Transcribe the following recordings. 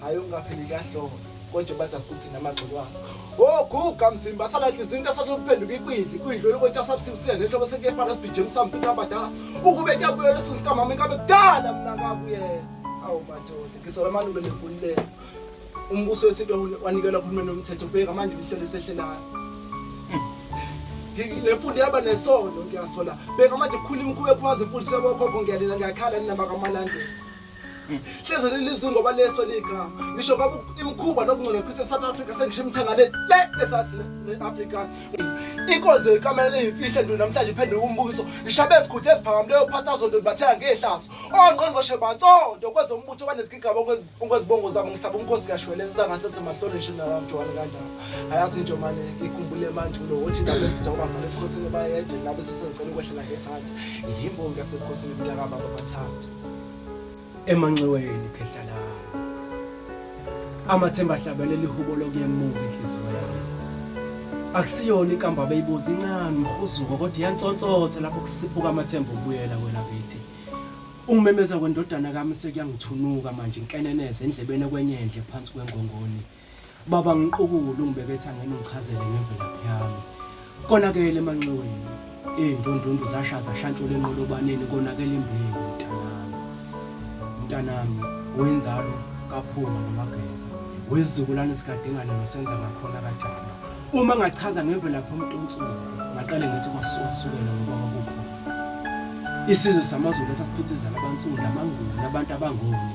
hayi ungapheli kuyahlonga kodwa bathi asikuphi namagxolo waso oguga mzimba asala nhliziyo into asathe ukuphenduka ikwidli ikwidli olokothi asabusuku siya nehlobo sekuyefana sibhijema samphitha abadala ukube kuyabuyela isizwe sikamama ingabe kudala mna kabuyela awu madoda ngisola amalungu enembululeko umbuso wesintu wanikelwa uhulumeni womthetho bheka manje lihlelo esehlelayo le mfundo yaba nesono ngiyasola bheka manje khula imikhuba ephumaza imfundisi yabokhokho ngiyalela ngiyakhala ninamakamalande Hleze lelizwe ngoba leso lika. Ngisho kwaku imkhuba nokungcola chithe South Africa sengisho imthangale le esazi neAfrica. Inkonzo ikamela imfihle ndu namhlanje iphenduka umbuso. Ngishabe izikhuthe eziphakam leyo pastor zonto bathenga ngehlazo. Ongqongqoshe batsonto kwezombutho banezigigaba okwezibongo zabo ngihlaba umkhosi kashweleza ngasethe mahlole nje nalamjwana kanjalo. Ayazi nje manje ikhumbule manje lo wothi ngabe sizoba sale ekhosini bayede ngabe sisengicela ukwehlela ngesathi. Yimbongi yasekhosini mntaka baba bathanda. emanxiweni phehla lami amathemba ahlabelela ihubo lokuyemuka inhliziyo yami akusiyona ikamba beyibuza incane mhuzuko kodwa iyantsontsotha lapho kusiphuka amathemba obuyela kwena kithi umemeza kwendodana kami sekuyangithunuka manje inkeneneze endlebeni kwenye endle phansi kwengongoni Baba ngiqukule ungibekethe angene ngichazele ngemvelaphi yami. Konakele emanxiweni. Iy'ndundundu zashaza shantshula enqolobaneni konakele imbewu mntanami. Mntanami wenzalo kaphuma nomageba. Wezizukulwane sikadingane nosenza ngakhona kajama. Uma ngachaza ngemvelaphi umuntu onsuku ngaqale ngithi kwasuka-sukela ngoba kwakukhona. Isizwe samaZulu esasiphithizela abansundu, amanguni, abantu abangoni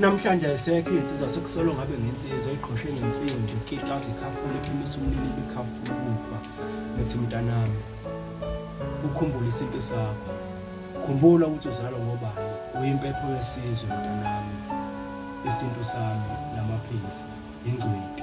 Namhlanje ayisekho insizwa sekusolo ngabe ngensizwa iqhoshe ngensimbi ikita zikhafula iphimisa umlilo ibikhafula ukufa ethi mntanami ukhumbula isintu sakho khumbula ukuthi uzalwa ngobani uyimpepho yesizwe mntanami isintu sami namaphilisi ingcweti